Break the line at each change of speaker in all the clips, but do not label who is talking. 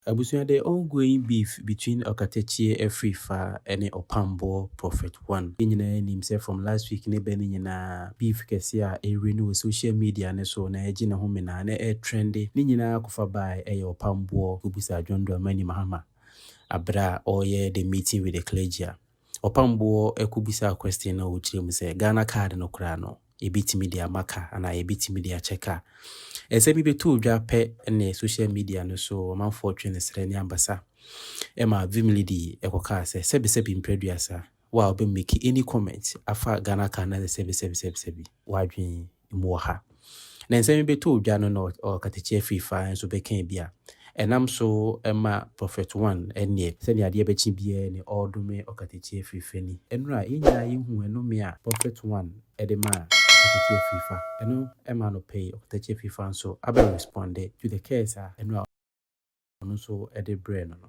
Abusua de ongoing beef between Ɔkatakyie afiri fa ne Ɔpamboɔ prophet one. Yɛn nyinaa nim sɛ from last week ne bɛ no nyinaa beef kɛseɛ a ɛrewura no wɔ social media no so na ɛregye ne ho menaa na ɛretrɛnde ne nyinaa kɔfa bae ɛyɛ Ɔpamboɔ kɔbusaa John Dramani Mahama aberɛ a ɔreyɛ the meeting with the clergy a Ɔpam boɔ kɔ bisaa question na ɔkyerɛ mu sɛ Ghana card no koraa no yɛbɛtumi de ama ka anaa yɛbɛtumi de akyɛ ka. Nsɛm yi bɛtoo dwa pɛ ne social media no so ɔmanfoɔ twe ne serɛ ne abasa ma Vimlidi kɔkaa sɛ sɛbisɛbi mprɛduasa wo a wobɛ make any comment afa Ghana card no asɛ sɛbisɛbisɛbisɛbi w'adwene mu wɔ ha. Na nsɛm yi bɛtoo dwa no na ɔkatakyia firi fa nso bɛkaa bi a ɛnam so ma Prophet One ɛnneɛ. Sɛdeɛ adeɛ bɛkye biara ne ɔredome ɔkatakyia firi fa ni. Ɛnora a, yɛn nyinaa yɛhuu ɛnome a Prophet One de maa ɔkatakyia firi fa. Ɛno maa no pɛi ɔkatakyia firi fa nso abɛ responde to the curse a ɛnora ɔno nso de brɛɛ no no.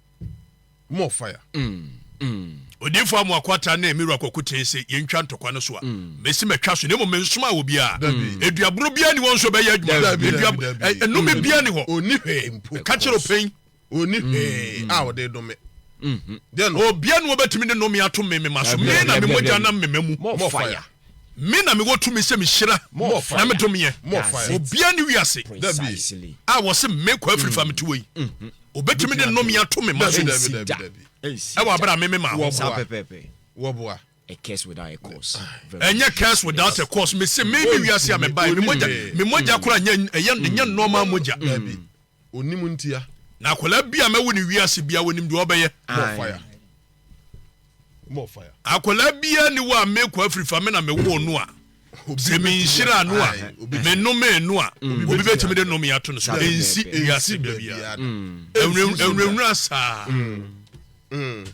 More fire. Mm,
mm. Odiifo Amoakoata ne Miro Akwaku tee se yentwa ntɔkwa no so a, mm. mesi matwa so, na mmom mensomaa wɔ biara. Eduaboro biara ni wɔn nso bɛyɛ adwuma. Nnome mm. biara ni hɔ. Onni hwee mpo. Ka
kyerɛ ɔpɛn.
Onni mm. hwee
a ɔde dome. Mm-hmm.
Obia na wɔbɛtumi de nnome ato me mema so, me na me mogya nam mema mu. More fire.
Me na mewɔ
tumi sɛ mehyira na medome ɛ. Obiara nni
wiase
a
wɔse me
Kwaa Firi fa mete hɔ yi, ɔbɛtumi de nnome ato me mma so wɔ aberɛ a me memaa
wɔboa.
Ɛnyɛ curse
without a cause. Mese me me wiase a mebaeɛ, me mogya, me mogya koraa nyɛ, ɛyɛ, ɛnyɛ nnoɔma mogya. Ɔnim
ntia. Na akwadaa bi a
mɛwo no wiase biara wɔnim deɛ ɔbɛyɛ. More fire.
More fire. Akwadaa biara ni
wɔ a mekɔ afiri fa me na mewoo no a sɛ menhyira no a menome no a mm. obi bɛtumi de nome ato no so ɛnsi wiase da biara mm. ɛwurawura saa mm.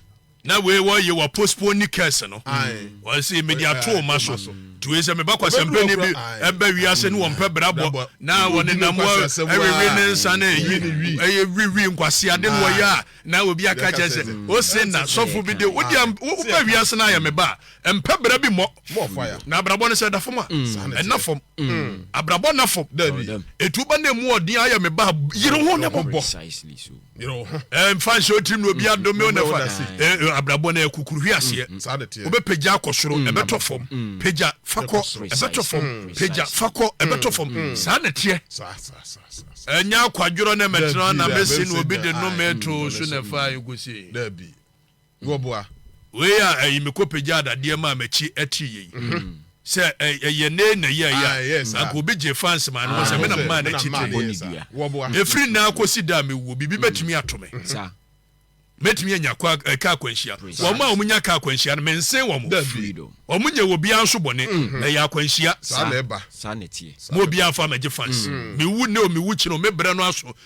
Na wei wɔ ye wɔ postpone ni curse no. Wɔ se mede ato oma so. Nti wei sɛ meba kwasɛmpɛni bi ɛba wiase ne wɔmpɛ brabɔ na wɔne nam wɔ ɛwewe ne nsa na ɛyi ɛyɛ wiwi nkwaseade no wɔyɛ a na obi aka kyɛ sɛ o se na sɔfo bi de wo deɛ woba wiase na ayɛ meba a mpɛ bra bi mmɔ na abrabɔ
no sɛ ɛda fam
a ɛna fam abrabɔ na fam etu ba na emu ɔden ayɛ meba yere ho ne bɔbɔ
yere wo ho. ɛmfa
nhyɛ wo tirim na
obi adome wo na fa abrabɔ no ɛkukuru hwi aseɛ mm, wobɛpagya akɔ soro mm, ɛbɛtɔ fam mm. pagya fa kɔ ɛbɛtɔ fam pagya fa kɔ ɛbɛtɔ fam saa na teɛ ɛnyɛ akwadworɔ na mɛtena na mɛsi na obi de nome to so na fa ɛkɔsie
na wɔboa. Wei a
ɛyi me kɔpagyaa dadeɛ maa m'akyi atiri yei sɛ ɛyɛ ne na yi a ɛyɛ a na nka obi gye fans maa no ho sɛ me na mmaa n'akyi tiri. Ɛfiri nnɛ
ara kɔsi
da a mɛwuo biribi bɛtumi ato me.
Mɛtumi
anya kwa ɛka akwanhyia. Wɔn a wɔn nya ka akwanhyia no mensen wɔn. Wɔn nyɛ
wɔ biara nso
bɔne. Ɛyɛ akwanhyia.
Mo
obiara fa mɛgye
fans. Mewu nnɛ o mewu kyerɛ o me brɛ no aso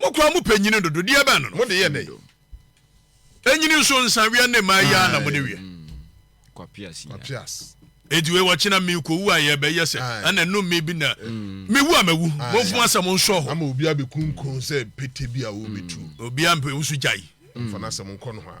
Mo koraa mo pɛ nyini dodo deɛ bɛn no mo de yɛ dɛ. Enyini nso nsa wia ne maa yia na mo de wia.
Kwapias.
Eti wei wɔkyena
mi ko wu a yɛ bɛ yɛ sɛ ɛna num mi bi na mi wu a mɛ wu. Mo nfuma sɛ mo nsɔ hɔ. Ama obi abɛ kunkun
sɛ pete bi a o bɛ tu. Obi a mpɛ wusu gya
yi. Nfana sɛ mo nkɔ
no hɔ a.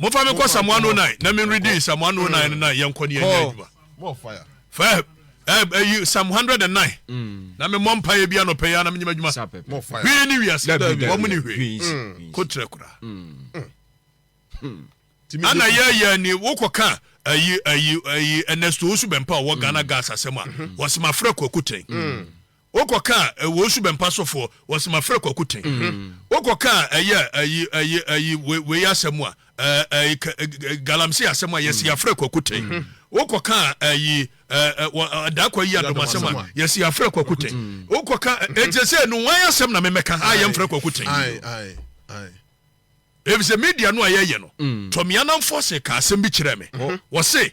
Mofa me nkɔ samoa no nan na me redi nsamoa no
nan
no na yɛnkɔ ne yɛnyɛ adwuma. Fa ɛyi Psalm hundred and nine mm. na me mmɔ mpa yɛ bi anɔpɛ yɛ na me nyɛ adwuma. Hwee ne
wiase
wɔn mu ni hwee mm. ko kyerɛ kora. Mm. Ana yɛ yɛ ni wokɔ kan ayi ayi ayi Ernesto Osu Bɛmpa wɔ Ghana gas asɛm a wɔsɛm afrɛ kɔ akutɛn. Wokɔ kaa ɛwɔ osu bɛmpa so foɔ wɔ se mafrɛ kwaku ten wokɔ kaa ɛyɛ ayi ayi ayi wei asɛm a ɛɛ galamsey asɛm a yɛsi yafrɛ kwaku ten wokɔ kaa ɛyi ɛɛ dakɔ yi adom asɛm a yɛsi yafrɛ kwaku ten wokɔ kaa ɛkyɛ sɛ no wɔn asɛm na memɛka a yɛmfrɛ kwaku ten efisɛ media no a yɛyɛ no tɔmia namfoɔ se ka asɛm bi kyerɛ me wɔ se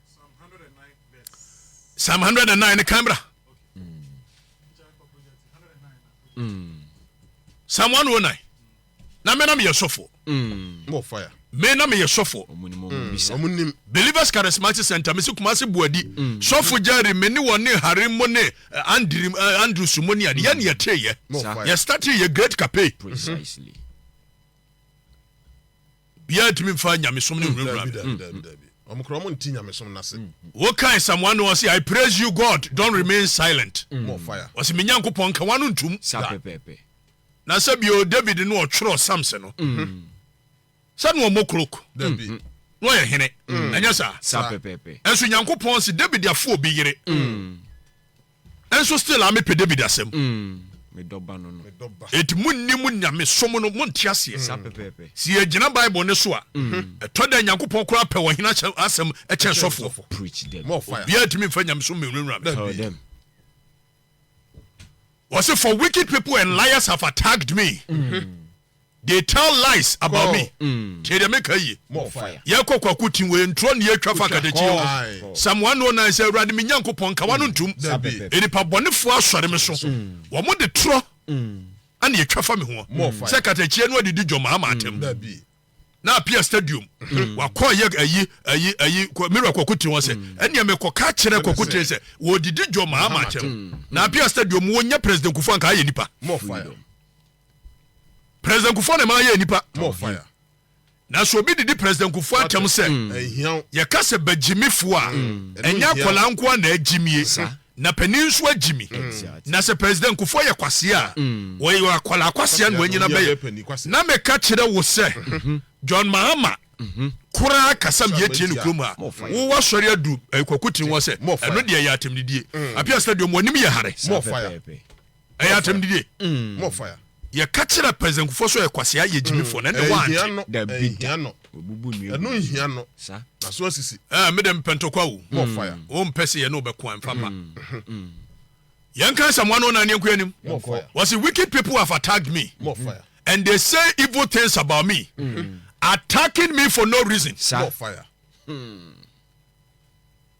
psalm 109 ne kan bra psalm 109 na me na meyɛ sɔfoɔ
me na meyɛ sɔfoɔ
mm. believers charismatic center mesi kuma se buadi mm. sɔfo gyari me ne wɔne hare mo ne eh, eh, andrews mo ne ade yɛne yɛteeyɛ yɛstate yɛ great cape bia ntumi mfa nyamesom ne nwurawura me wokae psalm 1 ɔse i praise you god don't remain silent ɔse me
nyankopɔn nka
wano ntom na sɛ bio david no ɔtwerɛ psalms no sɛ no ɔmɔ krok
na ɔyɛ hene
ɛnyɛ saa ɛnso nyankopɔn se david afo obi yere Nso still a mepɛ David asɛm. Mm, me dɔ ba
no no. Enti monni
mo nyame som no, monte aseɛ. Saa pɛpɛɛpɛ. Se yɛgyina Bible no so a, ɛtɔ da Nyankopɔn koraa pɛ ɔhene ahyɛ asɛm kyɛn sɔfoɔ. Preach them. More fire.
Obiara ntumi mfa
nyamesom
mewurawura me. Tell them. Wɔse for wicked people and liars have attacked me. They tell lies about me. Mm. Tie deɛ meka yie. More fire. Yɛkɔ
kwaku tim wɔ
ntorɔ ne yɛtwa fa kadakyi o. Psalm 109 sɛ awurade me Nyankopɔn nka wano ntom. Nnipa bɔnefoɔ asɔre me so. Mm. Wɔn de torɔ ɛna yɛtwa fa me ho. Sɛ katakyie no adidi dwom ama atam. Mm. Na apia stadium. Mm. Wakɔ yɛ ayi ayi ayi mira kwaku tim sɛ mm. ɛnea mekɔ ka kyerɛ kwaku tim sɛ wɔdidi dwom ama atam. Na apia stadium wɔnyɛ president kufu anka ayɛ nipa. More fire.
President
Kufuor na ɛma yɛɛ nipa more fire.
Na sɛ obi
didi President Kufuor atɛm sɛ mm. yɛka sɛ bagyimifo a mm. ɛnyɛ akwadaa nko a na agyimie na panin nso agyimi mm. na sɛ President Kufuor yɛ kwaseɛ a wɔyɛ akwadaa kwaseɛ na wanyina bɛyɛ na meka kyerɛ wo sɛ mm-hmm. John Mahama mm-hmm. koraa kasa mi yɛtie ne kurom a wowɔ asɔre adu eh, kwakutin wɔ sɛ ɛno deɛ yɛ atɛmdidie apia stadium wɔnim yɛ hare
ɛyɛ atɛm
didie mm. more fire
yɛka kyerɛ
president kufoɔ so yɛ kwasea yɛ gyimifoɔ na ɛnde waante ɛno
nhia no na so asisi mede mpɛntɔkwa
wo wompɛ
sɛ yɛne wobɛko
a mfa ma yɛnka sɛ mmoa no na ne nkoa anim wɔse
wicked people have
attacked me and they
say
evil things about me mm. attacking me for no reason more fire. Mm.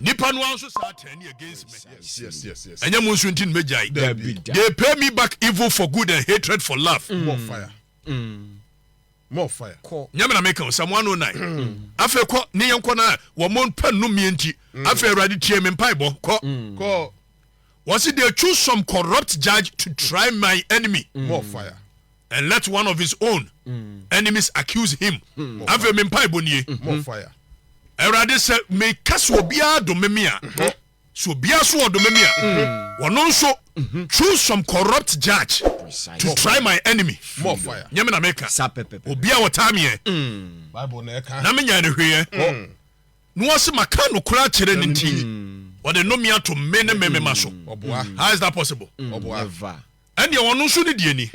Nipa no
ara nso saa turning against me yes yes yes yes ɛnyɛ mo
nso nti no
mɛgyae dabi they pay me back evil for good and hatred for love mm. more fire
mm. more fire kɔ nyɛ me na meka o sɛ
mo ano nan mm. afei kɔ ne yɛn kɔ na wɔn pɛ nnum yɛn nti mm. afei awurade tie me mpaebɔ kɔ mm. kɔ Wɔsi they choose some corrupt judge to try my enemy more fire
and let one
of his own enemies
accuse
him afei me mpaebɔ nie more fire awurade sɛ meka sɛ obiara dome me a sɛ obiara so ɔdome me a wɔno nso choose some corrupt judge to try my enemy more fire nyɛ me na
meka
obiara wɔtaa meɛ
na menyae no hweeɛ
No ase maka nokora akyerɛ no nti ɔde nome ato me ne me mema so how is that possible
ɛnneɛ ɔno nso
ne deɛ ni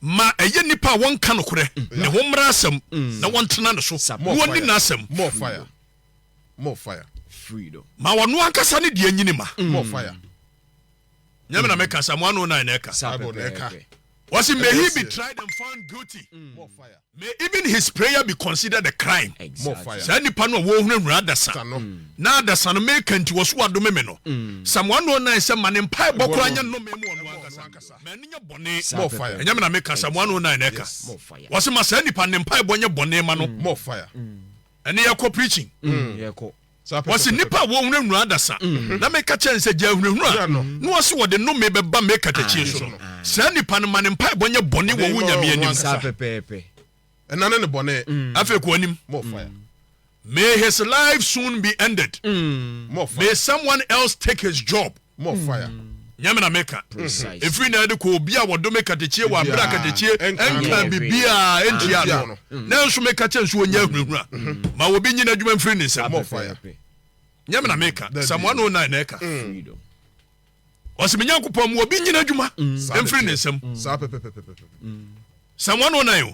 ma ɛyɛ nipa
a wɔnka nokorɛ ne ho mmara asɛm na wɔntena ne so na wɔni n'asɛm
ma
ɔno ankasa
ne deɛ nyini ma nyame na meka sa mo ano na na ɛka sa bible na ɛka
wɔsi may he be
tried and found guilty mm. more fire may
even his
prayer be considered a crime exactly. more fire saa nipa
no a wɔhunahuna
adasa mm. na adasa no meka nti wɔso wadome me no mm. sa mo ano na ɛsɛ ma ne mpa ɛbɔ koraa nyɛ nnome mu ɔno ankasa ma ɛno nyɛ bɔne more fire nyame na meka
sa mo ano
na na ɛka wɔsi ma saa
nipa ne mpa
ɛbɔ nyɛ bɔne ma no more fire
ɛne yɛkɔ
preaching yɛkɔ
Wɔse nnipa
a wɔhunahunaa adasa, na meka kyerɛɛ no sɛ, Gyae hunahuna no, na wɔse wɔde nnome bɛba me katakyie so no, saa nnipa no, ma ne mpaebɔ nyɛ bɔne wɔ wo Nyame anim. Saa pɛpɛɛpɛ.
Ɛna ne ne
bɔne. Afei kɔ w'anim.
More fire.
May his
life soon be ended. More fire. May
someone else
take his job. More fire.
Nyame na meka.
Ɛfiri na ɛde kɔ obi a wɔdome katekyie wɔ abere a katekyie nkaa biribiaa ɛntia no no. Nanso meka kyɛ nso ɔnya ahunahuna. Ma obi nyi n'adwuma mfiri ne nsam. More fire.
Nyame na
meka. Psalm 109 na ɛka. Ɔse me Nyankopɔn ma obi nyi n'adwuma mfiri ne nsam. Psalm 109 o.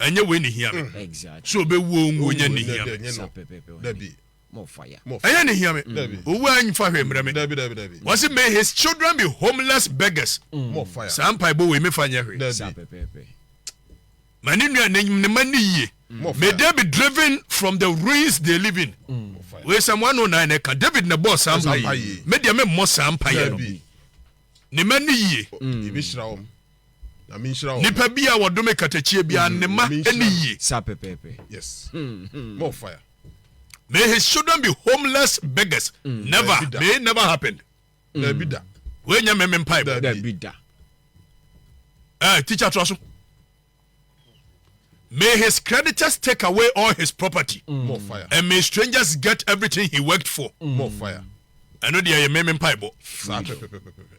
ɛnyɛ wei ne
hia me sɛ ɔbɛwu
ɔnwu ɔnyɛ
ne hia me
ɛnyɛ ne hia me
ɔwu a mfa
hwɛ mmerɛ
me wɔse may his
children
be homeless beggars saa
mpaebɔ wei mefa nyɛ
hwee
ma
ne nua ne ma ne yie may they be
driven
from the ruins they live in wei sɛm
wano na ɛna ɛka
david na ɛbɔɔ saa mpa yi me deɛ memmɔ saa mpa yɛ no
ne ma
ne yie
Nipa bi a wɔdome katakyie
bi a ne ma ɛni yie. Sa pɛpɛɛpɛ.
Yes. Hmm,
hmm. More fire. May his
children be homeless beggars. Mm. Never. May it never happen. Mm. Dabi da.
Wei nyɛ mɛmɛ mpa
ɛbɔ. Dabi da.
Ɛɛ eh,
teacher tura so. May his creditors take away all his property. Mm. More fire. And may
strangers
get everything he worked for. Mm. More fire.
Ɛno deɛ yɛ
mɛmɛ mpa ɛbɔ. Saa pɛpɛpɛpɛpɛ.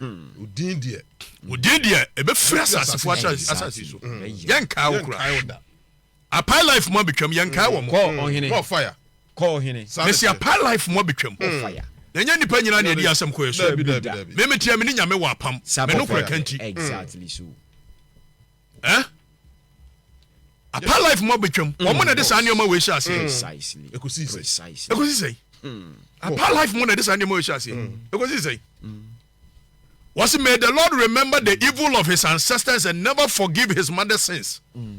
Wo din deɛ. Wo din deɛ
ɛbɛfiri asasefoɔ asase so yɛnkaa wo koraa apae life mu abɛtwam yɛnkaa wɔ mɔfaya
mesi apae life
mu
abɛtwam na ɛnyɛ nnipa
nyina
ne ɛdi asɛm kɔɛ so memeteɛ me
ne nyame wɔ
apam menokorɛ ka nti
Eh?
Apa life mu abɛtwam. Mm. Wɔn na ɛde saa nneɛma wɔ ahyɛ aseɛ. Mm. Ɛkɔsi sɛn? Ɛkɔsi sɛn?
Mm.
Apa life mu na ɛde saa nneɛma wɔ ahyɛ aseɛ. Ɛkɔsi sɛn? Was may the Lord remember the evil of his ancestors and never forgive his mother's sins. Mm.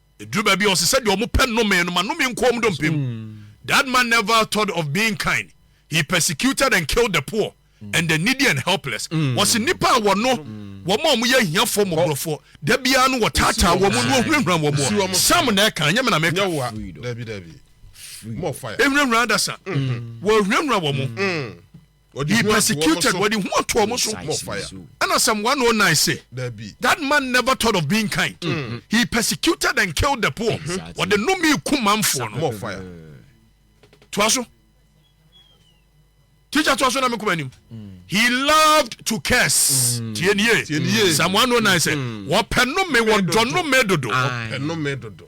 Ɛduru baabi a ɔse sɛ deɛ wɔpɛ nnome no ma nnome nko wɔn dompem. That man never thought of being kind, he persecuted and killed the poor and the needy and helpless. Ɔse nnipa a wɔnɔ wɔn a wɔyɛ ahiafoɔ mmɔborɔfoɔ, da biara no wɔtaataa wɔn na wɔhurahura wɔn wɔ. Sam na ɛka, ɛnyɛ me na meka.
Ɛhurahura adasa,
wɔhurahura wɔn. He persecuted, wɔde hu ato wɔn so. Ɛna
Psalm 109
se, That man never thought of being kind. Mm-hmm. He persecuted and killed the poor. Wɔde nnome ku manfoɔ no. Toa so. Teacher toa so na me kɔma anim. Mm. He loved to curse. Mm. Tie nie. Psalm 109 sɛ, wɔpɛ nnome, wɔdɔ nnome dodo. Wɔpɛ nnome dodo.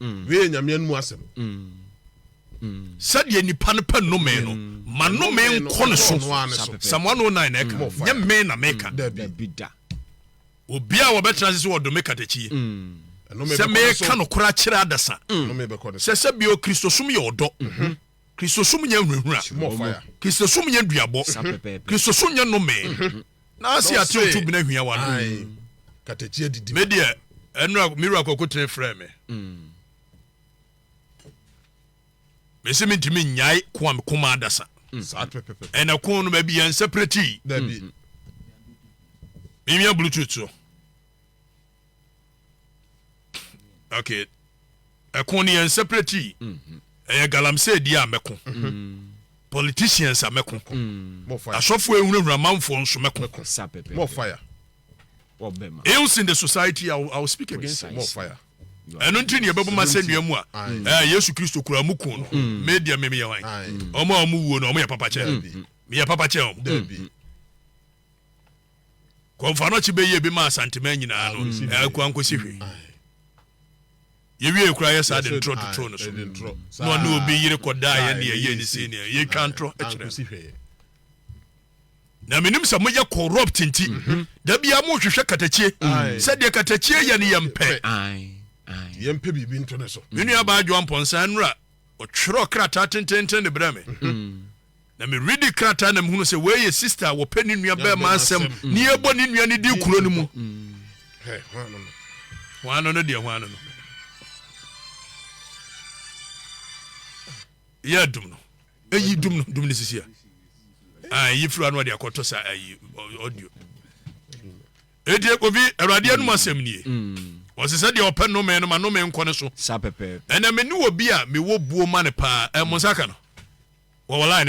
mm. wei yɛ nyameɛ no mu asɛm
sɛdeɛ nipa no pɛ nnome no ma nnome nkɔ ne so psalm 109 na ɛka nyɛ me na meka obiaa wɔbɛtena ase sɛ wɔdome katakyie sɛ meka nokorɛ akyerɛ adasa sɛ sɛ bio kristosom yɛ ɔdɔ Kristosom nyɛ nhurahura. Kristosom nyɛ duabɔ. Kristosom nyɛ nnome. Nanse yɛate otu bena hiawa no.
Me deɛ, ɛnora
me wura Kwakutene frɛɛ me. Mese mentumi nnyae ko a meko ma adasa. Ɛna ko no baabi yɛn nsa piratii.
Menwia
bluetooth so. okay ɛko no yɛn separate yi mhm. ɛyɛ galamsey di a mɛko mhm. politicians a mɛko mhm. asɔfo
ehunahuna amanfoɔ
nso mɛko more
fire
ills in the society i will, I will speak against it more fire
ɛno nti ne
yɛbɛboma sɛ nnua mu a eh, yesu kristo kura mu ko no media memeyɛ wan ɔma ɔmo wuo no ɔmo yɛ papa kyɛ meyɛ papa kyɛ ɔmo kɔmfa no kye bɛyie bi ma asanteman nyinaa no ɛkɔ ankɔsi hwe yɛwie koraa yɛ saa de ntorɔ totoo no so na ɔne obi yere kɔdaa yɛ ne yɛyɛ ne sei neɛ yɛtwa ntorɔ kyerɛ na menim sɛ moyɛ corrupt nti mhm. da bia mohwehwɛ katakyie sɛdeɛ katakyie yɛ no yɛmpɛ
yɛmpɛ biribi nto ne so me nuabaa adwoa mpɔnsa
nnora ɔtwerɛ krataa tententen de brɛ me mhm. Na me readi krataa na me hunu sɛ wei yɛ sister a wɔpɛ ne nua bɛɛma asɛm ne yɛbɔ ne nua ne di kuro no mu. Hwan no no deɛ hwan no no. Yɛ dum no. Eyi dum no dum ne sisi a. Ah, eyi firi ano ɔde akɔtɔ sa ayi audio. Eti ekofi awurade anum asɛm nie. Ɔsɛ sɛ deɛ ɔpɛ nnome no ma nnome nkɔ ne so. Ɛnna me ne obi a mewɔ buo ma no paa. Ɛmo nsa ka no. Wɔwɔ line